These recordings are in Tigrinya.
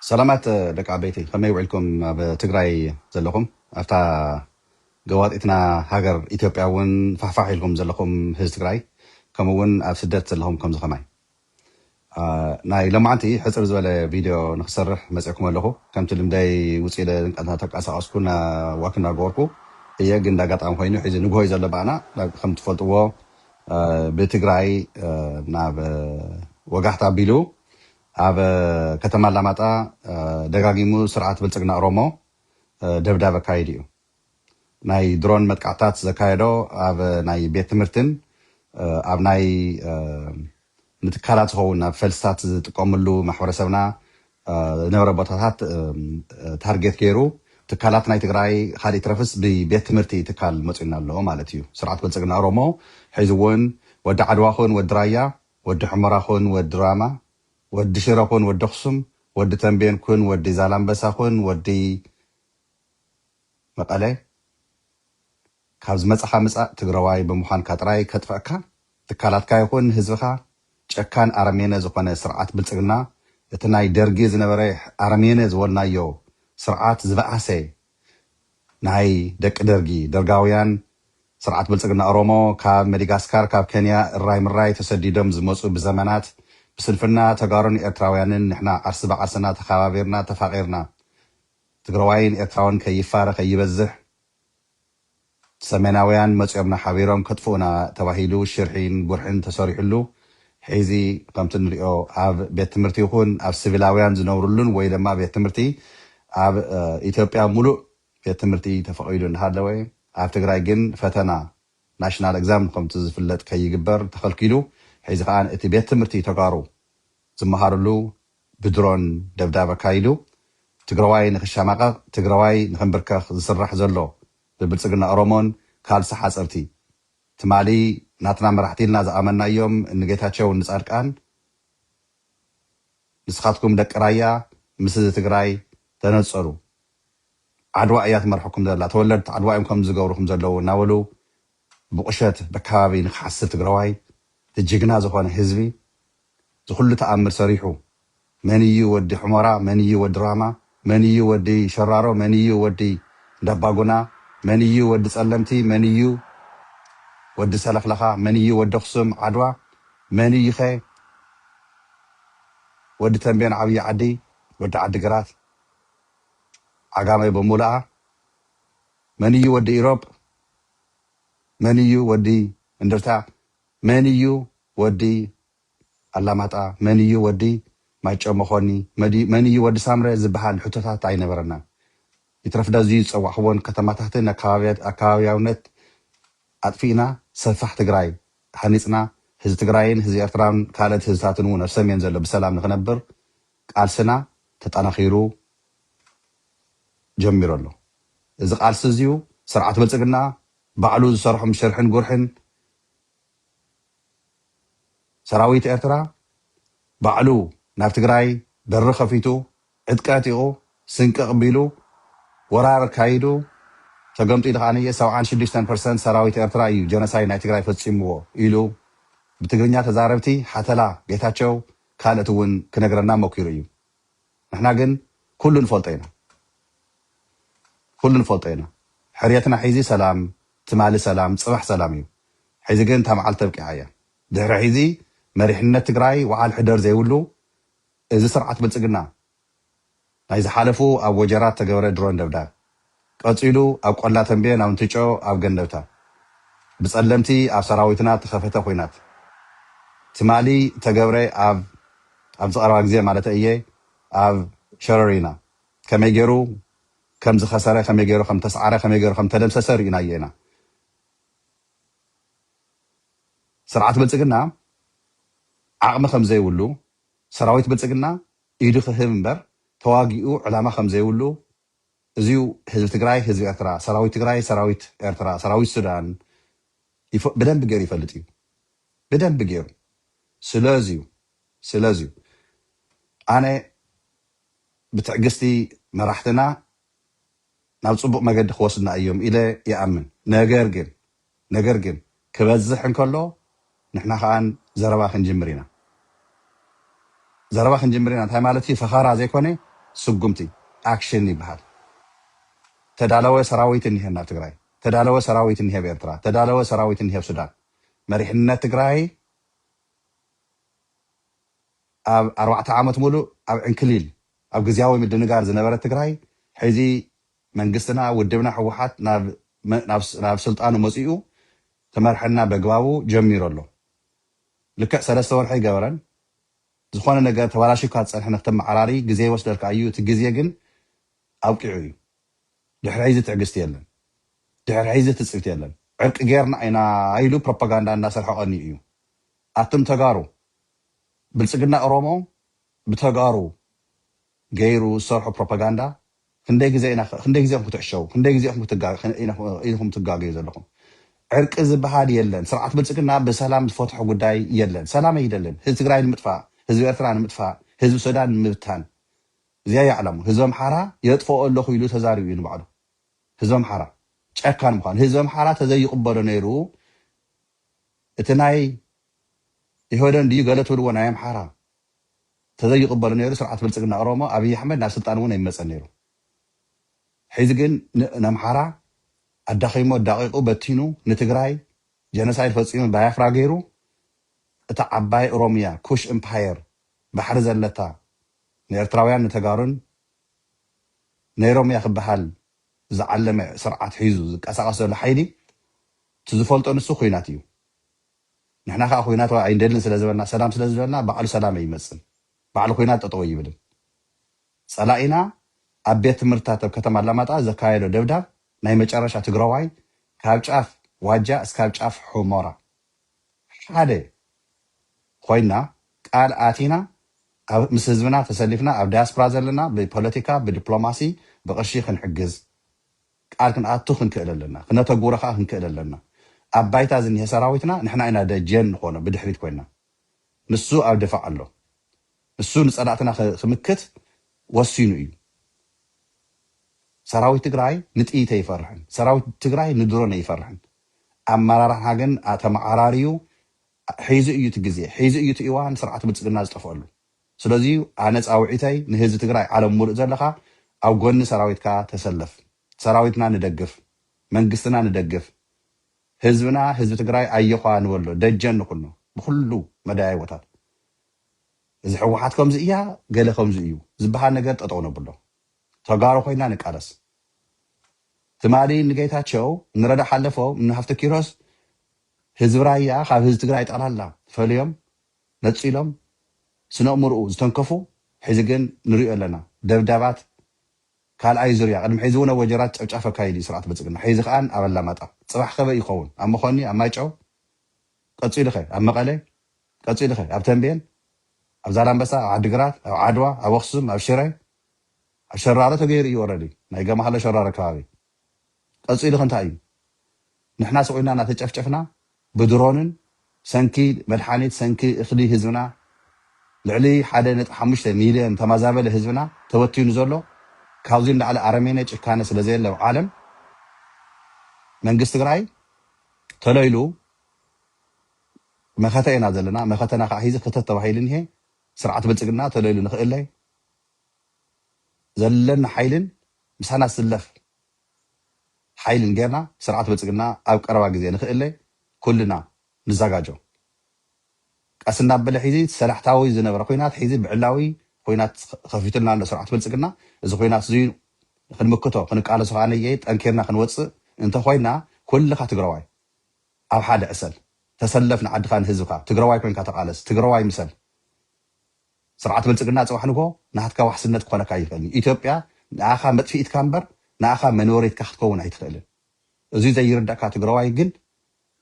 ሰላማት ደቂ ዓበይቲ ከመይ ውዒልኩም ኣብ ትግራይ ዘለኹም ኣብታ ገዋጢትና ሃገር ኢትዮጵያ እውን ፋሕፋሕ ኢልኩም ዘለኹም ህዝ ትግራይ ከምኡ እውን ኣብ ስደት ዘለኹም ከምዚ ከማይ ናይ ሎማዓንቲ ሕፅር ዝበለ ቪድዮ ንክሰርሕ መፅዕኩም ኣለኹ ከምቲ ልምደይ ውፅ ኢለ ተንቀሳቀስኩ እና ዋክ እናገበርኩ እየ ግን እንዳጋጣሚ ኮይኑ ሕዚ ንግሆ እዩ ዘሎ ባኣና ከምትፈልጥዎ ብትግራይ ናብ ወጋሕታ ኣቢሉ ኣብ ከተማ ኣላማጣ ደጋጊሙ ስርዓት ብልፅግና ኦሮሞ ደብዳብ ኣካይዱ እዩ። ናይ ድሮን መጥቃዕትታት ዘካየዶ ኣብ ናይ ቤት ትምህርትን ኣብ ናይ ንትካላት ዝኸውን ናብ ፈልስታት ዝጥቀምሉ ማሕበረሰብና ዝነበረ ቦታታት ታርጌት ገይሩ ትካላት ናይ ትግራይ ኻሊእ ይትረፍስ ብቤት ትምህርቲ ትካል መፂኡና ኣሎ ማለት እዩ ስርዓት ብልፅግና ኦሮሞ ሒዙ እውን ወዲ ዓድዋ ኹን ወዲ ራያ ወዲ ሑመራ ኹን ወዲ ራማ ወዲ ሽረ ኹን ወዲ ኣኽሱም ወዲ ተምቤን ኩን ወዲ ዛላምበሳ ኹን ወዲ መቐለ ካብ ዝመጻኻ ምጻእ ትግረዋይ ብምዃንካ ጥራይ ከጥፍዕካ ትካላትካ ይኹን ህዝብኻ ጨካን ኣረሜነ ዝኾነ ስርዓት ብልጽግና እቲ ናይ ደርጊ ዝነበረ ኣረሜነ ዝበልናዮ ስርዓት ዝበኣሰ ናይ ደቂ ደርጊ ደርጋውያን ስርዓት ብልጽግና ኦሮሞ ካብ መዲጋስካር ካብ ከንያ እራይ ምራይ ተሰዲዶም ዝመጹ ብዘመናት ብስንፍና ተጋሩን ኤርትራውያንን ንሕና ዓርሲ ብዓርስና ተኻባቢርና ተፋቒርና ትግረዋይን ኤርትራውን ከይፋረ ከይበዝሕ ሰሜናውያን መጽዮምና ሓቢሮም ከጥፍኡና ተባሂሉ ሽርሒን ጉርሒን ተሰሪሑሉ ሒዚ ከምቲ ንሪኦ ኣብ ቤት ትምህርቲ ይኹን ኣብ ስቪላውያን ዝነብሩሉን ወይ ደማ ቤት ትምህርቲ ኣብ ኢትዮጵያ ሙሉእ ቤት ትምህርቲ ተፈቒዱ እንዳሃለወ ኣብ ትግራይ ግን ፈተና ናሽናል እግዛም ከምቲ ዝፍለጥ ከይግበር ተኸልኪሉ ሒዚ ከኣ እቲ ቤት ትምህርቲ ተጋሩ ዝመሃሩሉ ብድሮን ደብዳብ ኣካይዱ ትግራዋይ ንኽሻማቐቕ ትግራዋይ ንኽንብርከኽ ዝስራሕ ዘሎ ብብልፅግና ኦሮሞን ካልሲ ሓፀርቲ ትማሊ ናትና መራሕቲ ኢልና ዝኣመናዮም እኒ ጌታቸው እኒ ፃድቃን ንስኻትኩም ደቂ ራያ ምስ እዚ ትግራይ ተነፀሉ ዓድዋ እያ ትመርሐኩም ዘላ ተወለድቲ ዓድዋ እዮም ከምዚ ዝገብሩኹም ዘለዉ እናበሉ ብቁሸት በካባቢ ንክሓስብ ትግራዋይ እቲ ጅግና ዝኮነ ህዝቢ ዝኩሉ ተኣምር ሰሪሑ መን እዩ ወዲ ሑሞራ መን እዩ ወዲ ራማ መን እዩ ወዲ ሸራሮ መን እዩ ወዲ እንዳባጉና መን እዩ ወዲ ፀለምቲ መን እዩ ወዲ ሰለክለካ መን እዩ ወዲ ኣክሱም ዓድዋ መን እዩከ ወዲ ተምቤን ዓብይ ዓዲ ወዲ ዓዲ ግራት ዓጋመ በሙሉኣ መን እዩ ወዲ ኢሮብ መን እዩ ወዲ እንደርታ መን እዩ ወዲ ኣላማጣ መን እዩ ወዲ ማይጨው መኮኒ መን እዩ ወዲ ሳምረ ዝብሃል ሕቶታት ኣይነበረናን ይትረፍ ዳዙይ ዝጸዋዕክወን ከተማታትን ኣከባብያውነት ኣጥፊእና ሰፋሕ ትግራይ ሃኒጽና ህዝቢ ትግራይን ህዝቢ ኤርትራን ካልእት ህዝብታትን እውን ኣብ ሰሜን ዘሎ ብሰላም ንክነብር ቃልስና ተጠናኺሩ ጀሚሩ ኣሎ። እዚ ቃልሲ እዚዩ ስርዓት ብልፅግና ባዕሉ ዝሰርሖም ሽርሕን ጉርሕን ሰራዊት ኤርትራ ባዕሉ ናብ ትግራይ በሪ ከፊቱ ዕጥቂ ኣዕጢቑ ስንቂ ኣቕቢሉ ወራር ኣካይዱ ተገምጢሉ ከኣ ሰብዓን ሽዱሽተን ፐርሰንት ሰራዊት ኤርትራ እዩ ጀኖሳይድ ናይ ትግራይ ፈፂምዎ ኢሉ ብትግርኛ ተዛረብቲ ሓተላ ጌታቸው ካልእት እውን ክነግረና ሞኪሩ እዩ ንሕና ግን ኩሉ ንፈልጦ ኢና ኩሉ ንፈልጦ ኢና ሕርየትና ሒዚ ሰላም ትማሊ ሰላም ፅባሕ ሰላም እዩ ሒዚ ግን እታ መዓልቲ ኣብቂዓ እያ ድሕሪ ሒዚ መሪሕነት ትግራይ ውዓል ሕደር ዘይብሉ እዚ ስርዓት ብልፅግና ናይ ዝሓለፉ ኣብ ወጀራት ዝተገበረ ድሮን ደብዳብ፣ ቀጺሉ ኣብ ቆላ ተምቤን ኣብ እንትጮ ኣብ ገንደብታ ብጸለምቲ ኣብ ሰራዊትና እተኸፈተ ኹናት፣ ትማሊ ዝተገብረ ኣብ ኣብዚ ቀረባ ግዜ ማለተይ እየ ኣብ ሸረሪና ከመይ ገይሩ ከም ዝኸሰረ ከመይ ገይሩ ከም ዝተስዓረ ከመይ ገይሩ ከም ዝተደምሰሰ ርኢናዮ ኢና። ስርዓት ብልጽግና ዓቕሚ ከም ዘይብሉ ሰራዊት ብልጽግና ኢዱ ክህብ እምበር ተዋጊኡ ዕላማ ከምዘይብሉ እዚዩ ህዝቢ ትግራይ ህዝቢ ኤርትራ ሰራዊት ትግራይ ሰራዊት ኤርትራ ሰራዊት ሱዳን ብደንቢ ገይሩ ይፈልጥ እዩ ብደንቢ ገይሩ ስለዚዩ ስለዚዩ ኣነ ብትዕግስቲ መራሕትና ናብ ፅቡቅ መገዲ ክወስዱና እዮም ኢለ ይኣምን ነገር ግን ነገር ግን ክበዝሕ እንከሎ ንሕና ከኣ ዘረባ ክንጅምር ኢና ዘረባ ክንጅምር ኢና እንታይ ማለት እዩ ፈኸራ ዘይኮነ ስጉምቲ ኣክሽን ይብሃል ተዳለወ ሰራዊት እንሄ ናብ ትግራይ ተዳለወ ሰራዊት እንሄ ኣብ ኤርትራ ተዳለወ ሰራዊት እንሄ ኣብ ሱዳን መሪሕነት ትግራይ ኣብ ኣርባዕተ ዓመት ሙሉእ ኣብ ዕንክሊል ኣብ ግዝያዊ ምድንጋር ዝነበረት ትግራይ ሕዚ መንግስትና ውድብና ህወሓት ናብ ስልጣኑ መፂኡ ክመርሐና በግባቡ ጀሚሩ ኣሎ ልክዕ ሰለስተ ወርሒ ኣይገበረን ዝኾነ ነገር ተባላሽዩካ ዝፀንሐ ንክተመዓራርይ ግዜ ይወስደልካ እዩ እቲ ግዜ ግን ኣብቂዑ እዩ ድሕሪ ሕዚ ትዕግስቲ የለን ድሕሪ ሕዚ ትፅቢት የለን ዕርቂ ገይርና ኢና ኢሉ ፕሮፓጋንዳ እንዳሰርሐ ቀንዩ እዩ ኣቱም ተጋሩ ብልፅግና ኦሮሞ ብተጋሩ ገይሩ ዝሰርሖ ፕሮፓጋንዳ ክንደይ ግዘ ኢና ክንደይ ግዘ ኢኹም ክትዕሸዉ ክንደይ ግዘ ኢኹም ክትጋ ኢኹም ትጋገዩ ዘለኹም ዕርቂ ዝበሃል የለን ስርዓት ብልፅግና ብሰላም ዝፈትሖ ጉዳይ የለን ሰላም ኣይደልን ህዝቢ ትግራይ ንምጥፋእ ህዝቢ ኤርትራ ንምጥፋእ ህዝቢ ሱዳን ንምብታን እዚኣ እያ ዕላምኡ ህዝቢ ኣምሓራ የጥፍኦ ኣለኹ ኢሉ ተዛሪቡ እዩ ንባዕሉ ህዝቢ ኣምሓራ ጨካን ምዃኑ ህዝቢ ኣምሓራ ተዘይቕበሎ ነይሩ እቲ ናይ ኢህወደን ድዩ ገለ ትብልዎ ናይ ኣምሓራ ተዘይቕበሉ ነይሩ ስርዓት ብልፅግና ኦሮሞ ኣብይ ኣሕመድ ናብ ስልጣን እውን ኣይመፀን ነይሩ ሕዚ ግን ን ነምሓራ ኣዳኺሙ ኣዳቒቑ በቲኑ ንትግራይ ጀነሳይድ ፈፂሙ ባያፍራ ገይሩ እታ ዓባይ ኦሮምያ ኩሽ እምፓየር ባሕሪ ዘለታ ንኤርትራውያን ንተጋሩን ነይሮም እያ ክበሃል ዝዓለመ ስርዓት ሒዙ ዝቀሳቐስ ዘሎ ሓይሊ እቲ ዝፈልጦ ንሱ ኹናት እዩ ንሕና ከኣ ኩናት ኣይንደልን ስለ ዝበልና ሰላም ስለ ዝበልና ባዕሉ ሰላም ኣይመጽን ባዕሉ ኩናት ጠጠው ኣይብልን ጸላኢና ኣብ ቤት ትምህርትታት ኣብ ከተማ ኣላማጣ ዘካየዶ ደብዳብ ናይ መጨረሻ ትግራዋይ ካብ ጫፍ ዋጃ እስካብ ጫፍ ሑሞራ ሓደ ኮይና ቃል ኣቲና ኣብ ምስ ህዝብና ተሰሊፍና ኣብ ዳያስፕራ ዘለና ብፖለቲካ ብዲፕሎማሲ ብቅርሺ ክንሕግዝ ቃል ክንኣቱ ክንክእል ኣለና፣ ክነተግብሮ ከኣ ክንክእል ኣለና። ኣብ ባይታ ዝኒሀ ሰራዊትና ንሕና ኢና ደጀን ንኾኖ ብድሕሪት ኮይና። ንሱ ኣብ ድፋዕ ኣሎ። ንሱ ንጸላእትና ክምክት ወሲኑ እዩ። ሰራዊት ትግራይ ንጥይት ኣይፈርሕን፣ ሰራዊት ትግራይ ንድሮን ኣይፈርሕን። ኣመራርሓ ግን ተመዓራርዩ ሒዙ እዩ እቲ ግዜ፣ ሒዙ እዩ እቲ እዋን ስርዓት ብልጽግና ዝጠፍኣሉ። ስለዚ ዩ ኣነ ፃውዒተይ ንህዝቢ ትግራይ ዓለም ሙሉእ ዘለኻ ኣብ ጎኒ ሰራዊትካ ተሰለፍ ሰራዊትና ንደግፍ መንግስትና ንደግፍ ህዝብና ህዝቢ ትግራይ ኣዮዃ ንበሎ ደጀን ንኹኖ ብኹሉ መዳያይቦታት እዚ ሕወሓት ከምዚ እያ ገለ ከምዚ እዩ ዝበሃል ነገር ጠጠው ነብሎ ተጋሩ ኮይና ንቃለስ ትማሊ ንጌታቸው ንረዳ ሓለፎም ንሃፍተ ኪሮስ ህዝቢ ራያ ካብ ህዝቢ ትግራይ ጠቕላላ ፈልዮም ነጺሎም ስነእምርኡ ዝተንከፉ ሕዚ ግን ንሪኦ ኣለና ደብዳባት ካልኣይ ዙርያ ቅድሚ ሕዚ ውን ኣብ ወጀራት ጨፍጫፍ ኣካይዱ እዩ ስርዓት ብልጽግና ሕዚ ከኣ ኣብ ኣላማጣ ጽባሕ ከበይ እዩ ክኸውን ኣብ መኾኒ ኣብ ማይጨው ቀጺሉ ከ ኣብ መቐለ ቀጺሉ ከ ኣብ ተምቤን ኣብ ዛላምበሳ ኣብ ዓዲግራት ኣብ ዓድዋ ኣብ ኣኽሱም ኣብ ሽረ ኣብ ሸራሮ ተገይሩ እዩ ኦረዲ ናይ ገማሃሎ ሸራሮ ከባቢ ቀጺሉኸ እንታይ እዩ ንሕና ስቅ ኢልና እናተጨፍጨፍና ብድሮንን ሰንኪ መድሓኒት ሰንኪ እኽሊ ህዝብና ልዕሊ ሓደ ነጥቢ ሓሙሽተ ሚልዮን ተማዛበለ ህዝብና ተበቲኑ ዘሎ ካብዚ ንላዕሊ ኣረሜኔ ጭካነ ስለዘየለ ኣብ ዓለም መንግስት ትግራይ ተሎ ኢሉ መኸተ ኢና ዘለና መኸተና ከዓ ሂዚ ክተት ተባሂሉ እኒሀ ስርዓት ብልፅግና ተሎ ኢሉ ንክእለ ዘለና ሓይልን ምሳና ዝስለፍ ሓይልን ገይርና ስርዓት ብልፅግና ኣብ ቀረባ ግዜ ንክእለ ኩልና ንዛጋጆ። ቀስ እንዳበለ ሒዚ ሰላሕታዊ ዝነበረ ኹናት ሒዚ ብዕላዊ ኹናት ኸፊቱልና ኣሎ ስርዓት ብልፅግና። እዚ ኹናት እዙይ ኽንምክቶ ኽንቃለሶ ኸዓ ነየኢ ጠንኪርና ኽንወፅእ እንተኾይና ኩልኻ ትግረዋይ ኣብ ሓደ ዕሰል። ተሰለፍ ንዓድኻ ንህዝብኻ። ትግረዋይ ኮይንካ ተቓለስ። ትግረዋይ ምሰል። ስርዓት ብልጽግና ጽባሕ ንግሆ ናትካ ዋሕስነት ክኾነካ ኣይኽእልን እዩ። ኢትዮጵያ ንኣኻ መጥፊኢትካ እምበር ንኣኻ መነበሪትካ ክትከውን ኣይትኽእልን። እዙይ ዘይርደእካ ትግራዋይ ግን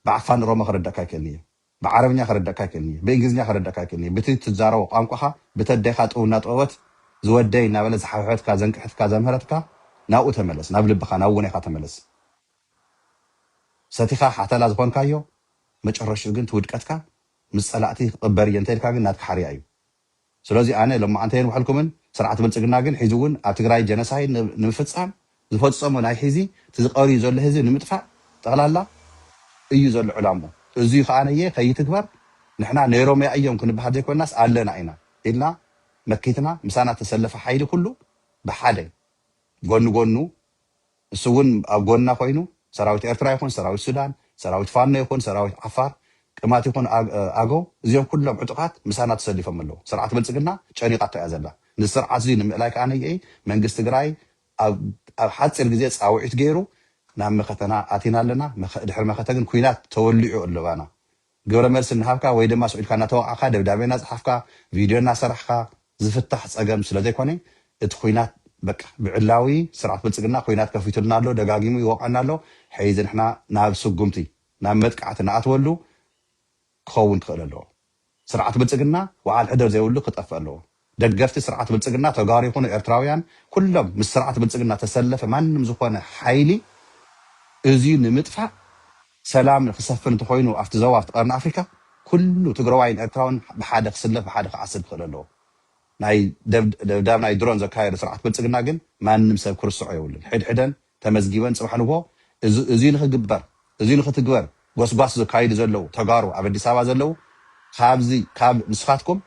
ብኣፋን ኦሮሞ ከረደእካ ኣይክእልን እየ። ብዓረብኛ ከረደእካ ኣይክእልን እየ። ብእንግሊዝኛ ከረደእካ ኣይክእልን እየ። ብቲ ትዛረቦ ቋንቋኻ ብቲ ኣዴኻ ጡብ እናጠበወት ዝወደይ እናበለት ዝሓውሐትካ ዘንቅሐትካ ዘምሀረትካ ናብኡ ተመለስ ናብ ልብኻ ናብ ውኔኻ ተመለስ። ሰቲኻ ሓተላ ዝኾንካዮ መጨረሽኡ ግን እቲ ውድቀትካ ምስ ጸላእቲ ክቅበር እየ እንተኢልካ ግን ናትካ ሓርያ እዩ ስለዚ ኣነ ሎማዓንቲ ኣየንውሐልኩምን ስርዓት ብልጽግና ግን ሒዚ እውን ኣብ ትግራይ ጀነሳይ ንምፍጻም ዝፈጸሞ ናይ ሒዚ እቲ ዝቀርዩ ዘሎ ህዝቢ ንምጥፋእ ጠቅላላ እዩ ዘሎ ዕላምኡ እዙይ ከኣ ነየ ከይትግበር ንሕና ነይሮምያ እዮም ክንብሃል ዘይኮናስ ኣለና ኢና ኢልና መኪትና ምሳና ተሰለፈ ሓይሊ ኩሉ ብሓደ ጎኒ ጎኑ ንሱ እውን ኣብ ጎንና ኮይኑ ሰራዊት ኤርትራ ይኹን ሰራዊት ሱዳን፣ ሰራዊት ፋኖ ይኹን ሰራዊት ዓፋር፣ ቅማት ይኹን ኣገው እዚኦም ኩሎም ዕጡቓት ምሳና ተሰሊፎም ኣለው። ስርዓት ብልጽግና ጨኒቓቶ እያ ዘላ። ነዚ ስርዓት እዚ ንምእላይ ከኣ ነይኤይ መንግስቲ ትግራይ ኣብ ሓጺር ግዜ ጻውዒት ገይሩ ናብ መኸተና ኣቲና ኣለና። ድሕሪ መኸተ ግን ኩናት ተወሊዑ ኣሎ ባና። ግብረ መልሲ እናሃብካ ወይ ድማ ስቁኢልካ እናተወቃዕካ ደብዳቤ እናጸሓፍካ ቪድዮ እናሰራሕኻ ዝፍታሕ ጸገም ስለዘይኮነ እቲ ኹናት በቃ ብዕላዊ ስርዓት ብልጽግና ኹናት ከፊቱልና ኣሎ ደጋጊሙ ይወቕዐና ኣሎ ሕይዚ ንሕና ናብ ስጉምቲ ናብ መጥቃዕቲ ንኣትወሉ ክኸውን ክኽእል ኣለዎ ስርዓት ብልጽግና ወዓል ሕደር ዘይብሉ ክጠፍእ ኣለዎ። ደገፍቲ ስርዓት ብልፅግና ተጋሩ ይኹኑ ኤርትራውያን ኩሎም ምስ ስርዓት ብልፅግና ተሰለፈ ማንም ዝኾነ ሓይሊ እዙይ ንምጥፋእ ሰላም ንክሰፍን እንተኾይኑ ኣብቲ ዞባ ኣብቲ ቀርኒ ኣፍሪካ ኩሉ ትግረዋይን ኤርትራውን ብሓደ ክስለፍ ብሓደ ክዓስል ክኽእል ኣለዎ። ናይ ደብዳብ ናይ ድሮን ዘካየዱ ስርዓት ብልፅግና ግን ማንም ሰብ ክርስዖ የብሉን ሕድሕደን ተመዝጊበን ፅባሕ ንግሆ እዙይ ንክግበር እዙይ ንክትግበር ጎስጓስ ዘካይዱ ዘለው ተጋሩ ኣብ ኣዲስ ኣበባ ዘለው ካብዚ ካብ ንስኻትኩም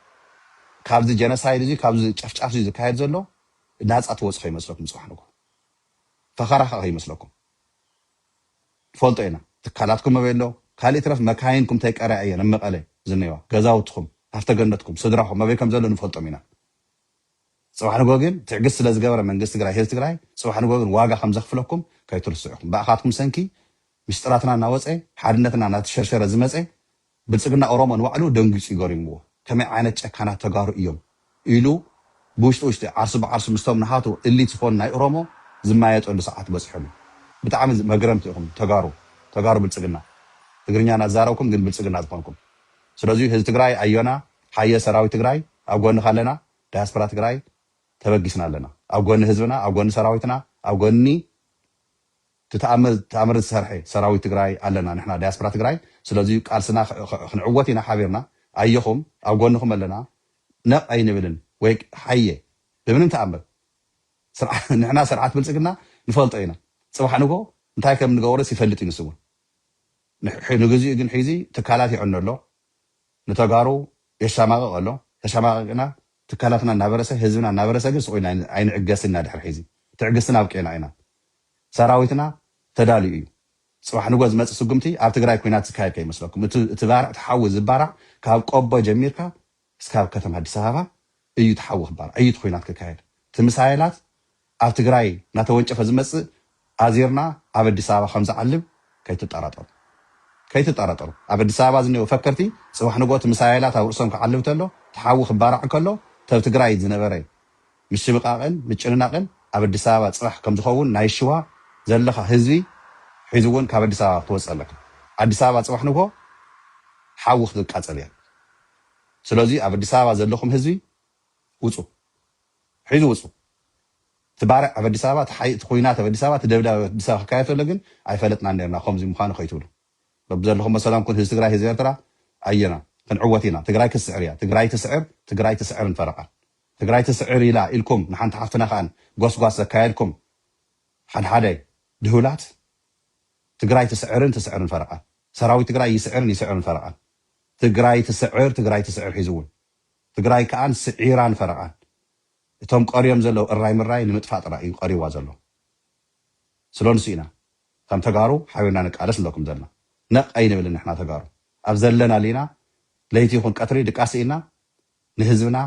ካብዚ ጀነሳይድ እዙይ ካብዚ ጨፍጫፍ እዙይ ዝካየድ ዘሎ ናፃ ትወፁ ከይመስለኩም ፅባሕ ንግሆ ፈኸራ ከዓ ከይመስለኩም ንፈልጦ ኢና ትካላትኩም ኣበይ ኣሎ ካልእ ይትረፍ መካይንኩም ተይቀርያ እየን ኣብ መቐለ ዝነይዋ ገዛውትኹም ሃፍተገነትኩም ስድራኹም ኣበይ ከም ዘሎ ንፈልጦም ኢና ጽባሕ ንግሆ ግን ትዕግስቲ ስለ ዝገበረ መንግስቲ ትግራይ ህዝቢ ትግራይ ጽባሕ ንግሆ ግን ዋጋ ከም ዘኽፍለኩም ከይትርስዑ ኢኹም ብኣኻትኩም ሰንኪ ሚስጥራትና እናወጸ ሓድነትና እናተሸርሸረ ዝመጸ ብልጽግና ኦሮሞ ንባዕሉ ደንጊጹ እዩ ገሪምዎ ከመይ ዓይነት ጨካናት ተጋሩ እዮም ኢሉ ብውሽጢ ውሽጢ ዓርሱ ብዓርሱ ምስቶም ንሃቱ እሊት ዝኾኑ ናይ ኦሮሞ ዝማየጠሉ ሰዓት በጺሑ ኣሎ ብጣዕሚ መግረምቲ ኢኹም ተጋሩ ተጋሩ ብልጽግና ትግርኛ እናዛረብኩም ግን ብልጽግና ዝኾንኩም ስለዙይ ህዝቢ ትግራይ ኣዮና ሃየ ሰራዊት ትግራይ ኣብ ጎንኻ ኣለና ዳያስፖራ ትግራይ ተበጊስና ኣለና ኣብ ጎኒ ህዝብና ኣብ ጎኒ ሰራዊትና ኣብ ጎኒ እቲ ተኣምር ተኣምር ዝሰርሐ ሰራዊት ትግራይ ኣለና ንሕና ዳያስፖራ ትግራይ ስለዚ ቃልስና ክንዕወት ኢና ሓቢርና ኣየኹም ኣብ ጎንኹም ኣለና ነቕ ኣይንብልን ወይ ሃየ ብምንም ተኣምር ስርዓ ንሕና ስርዓት ብልጽግና ንፈልጦ ኢና ጽባሕ ንጎ እንታይ ከም ንገብርስ ይፈልጥ እዩ ንሱ እውን ንግዚኡ ግን ሒዚ ትካላት ይዕኖ ኣሎ ንተጋሩ የሻማቕቕ ኣሎ ተሻማቒቕና ትካላትና እናበረሰ ህዝብና እናበረሰ ግን ስቕ ኢልና ኣይንዕገስን ኢና ድሕሪ ሕዚ ትዕግስትና ኣብቂዕና ኢና ሰራዊትና ተዳልዩ እዩ ፅባሕ ንጎ ዝመፅእ ስጉምቲ ኣብ ትግራይ ኩናት ዝካየድ ከይመስለኩም እቲ እቲ ባርዕ እቲ ሓዊ ዝባራዕ ካብ ቆቦ ጀሚርካ እስካብ ከተማ ኣዲስ ኣበባ እዩ እቲ ሓዊ ክባራዕ እዩ እቲ ኩናት ክካየድ እቲ ምሳይላት ኣብ ትግራይ እናተወንጨፈ ዝመፅእ ኣዚርና ኣብ ኣዲስ ኣበባ ከምዝዓልብ ከይትጠራጠሩ ከይትጠራጠሩ ኣብ ኣዲስ ኣበባ ዝኒኦው ፈከርቲ ፅባሕ ንግሆ እቲ ምሳይላት ኣብ ርእሶም ክዓልብ ተሎ እቲ ሓዊ ክባራዕ እንከሎ ተብ ትግራይ ዝነበረ ምሽብቃቅን ምጭንናቅን ኣብ ኣዲስ ኣበባ ፅባሕ ከምዝኸውን ናይ ሽዋ ዘለኻ ህዝቢ ሕዚ እውን ካብ ኣዲስ ኣበባ ክትወፅእ ኣለካ ኣዲስ ኣበባ ፅባሕ ንግሆ ሓዊ ክትቃፀል እያ ስለዙይ ኣብ ኣዲስ ኣበባ ዘለኹም ህዝቢ ውፁ ሒዙ ወጹ እቲ ባርዕ ኣብ ኣዲስ ኣበባ እቲ እቲ ኩናት ኣብ ኣዲስ ኣበባ እቲ ደብዳብ ኣብ ኣዲስ ኣበባ ክካየድ ተሎ ግን ኣይፈለጥናን ኔርና ኮምዚ ምዃኑ ከይትብሉ በብዘለኹሞ ሰላም ኩን ህዝቢ ትግራይ ህዝቢ ኤርትራ ኣየና ክንዕወት ኢና ትግራይ ክትስዕር እያ ትግራይ ትስዕር ትግራይ ትስዕርን ፈረቃን ትግራይ ትስዕር ኢላ ኢልኩም ንሓንቲ ሓፍትና ከኣ ጎስጓስ ዘካየድኩም ሓድሓደ ድሁላት ትግራይ ትስዕርን ትስዕርን ፈረቃን ሰራዊት ትግራይ ይስዕርን ይስዕርን ፈረቃን ትግራይ ትስዕር ትግራይ ትስዕር ሒዙ እውን ትግራይ ከኣ ስዒራን ፈረቓን እቶም ቀርዮም ዘለው እራይ ምራይ ንምጥፋእ ጥራይ እዩ ቀርይዋ ዘሎ ስለንሱ ኢና ከም ተጋሩ ሓቢርና ንቃለስ ንብለኩም ዘለና ነቕ ኣይንብልን ንሕና ተጋሩ ኣብ ዘለናሉ ኢና ለይቲ ይኹን ቀትሪ ድቃስ ስኢንና ንህዝብና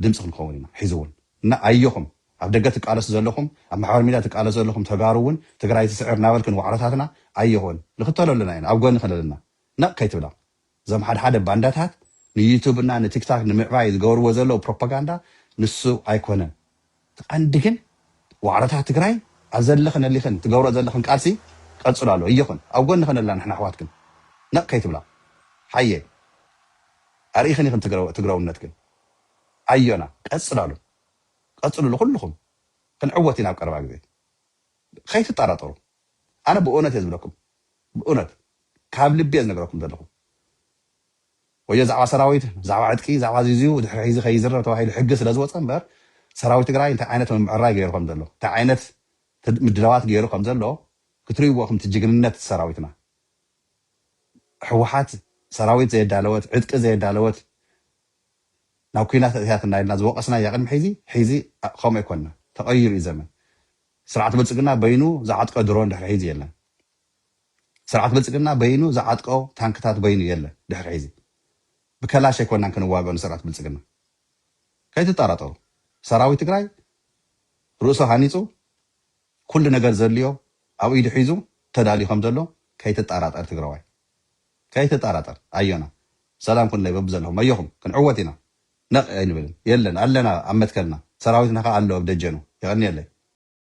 ድምጺ ክንኸውን ኢና ሕዚ እውን እና ኣዮኹም ኣብ ደገ ትቃለሱ ዘለኹም ኣብ ማሕበራዊ ሚድያ ትቃለሱ ዘለኹም ተጋሩ እውን ትግራይ ትስዕር እናበልክን ዋዕሮታትና ኣዮኹን ንክተለሉና ኢና ኣብ ጎንኽን ኣለና ነቕ ከይትብላ እዞም ሓደ ሓደ ባንዳታት ንዩቱብ እና ንቲክታክ ንምዕባይ ዝገብርዎ ዘለዉ ፕሮፓጋንዳ ንሱ ኣይኮነን እቲ ቀንዲ ግን ዋዕሮታት ትግራይ ኣብ ዘለኽን እሊኽን ትገብሮ ዘለኽን ቃልሲ ቀፅሉ ኣሎ እዮኽን ኣብ ጎንኽን ኣላ ንሕና ኣሕዋትክን ነቅ ከይትብላ ሓየ ኣርኢኽን ኢኽን ትግረውነትክን ኣዮና ቀፅላሉ ቀፅሉሉ ኩሉኹም ክንዕወት ኢና ኣብ ቀረባ ግዜ ከይትጣራጠሩ ኣነ ብእውነት እየ ዝብለኩም ብእውነት ካብ ልቢ እየ ዝነግረኩም ዘለኹ ወዮ ዛዕባ ሰራዊት ዛዕባ ዕጥቂ ዛዕባ እዚእዚዩ ድሕሪ ሕዚ ከይዝረብ ተባሂሉ ሕጊ ስለዝወፀ እምበር ሰራዊት ትግራይ እንታይ ዓይነት ምምዕራይ ገይሩ ከምዘሎ እንታይ ዓይነት ምድላዋት ገይሩ ከምዘሎ ክትሪእዎ እኹም እቲ ጅግንነት ሰራዊትና ህወሓት ሰራዊት ዘየዳለወት ዕጥቂ ዘየዳለወት ናብ ኩናት ኣእትያትና ኢልና ዝወቐስናያ ቅድሚ ሕዚ ሕዚ ከምኡ ኣይኮንና ተቐይሩ እዩ ዘመን ስርዓት ብልፅግና በይኑ ዝዓጥቀ ድሮን ድሕሪ ሕዚ የለን ስርዓት ብልፅግና በይኑ ዝዓጥቀ ታንክታት በይኑ የለን ድሕሪ ሕዚ ብከላሽ ኣይኮናን ክንዋገኦ ንስርዕት ብልፅግና ከይትጣራጠሩ ሰራዊት ትግራይ ርእሱ ሃኒፁ ኩሉ ነገር ዘድልዮ ኣብ ኢዱ ሒዙ ተዳልዩ ከም ዘሎ ከይትጣራጠር ትግራዋይ ከይትጣራጠር ኣዮና ሰላም ኩን ለይ በብዘለኹም ኣዮኹም ክንዕወት ኢና ነቕ ኣይንብልን የለን ኣለና ኣብ መትከልና ሰራዊትና ከዓ ኣሎ ኣብ ደጀኑ የቐንየለይ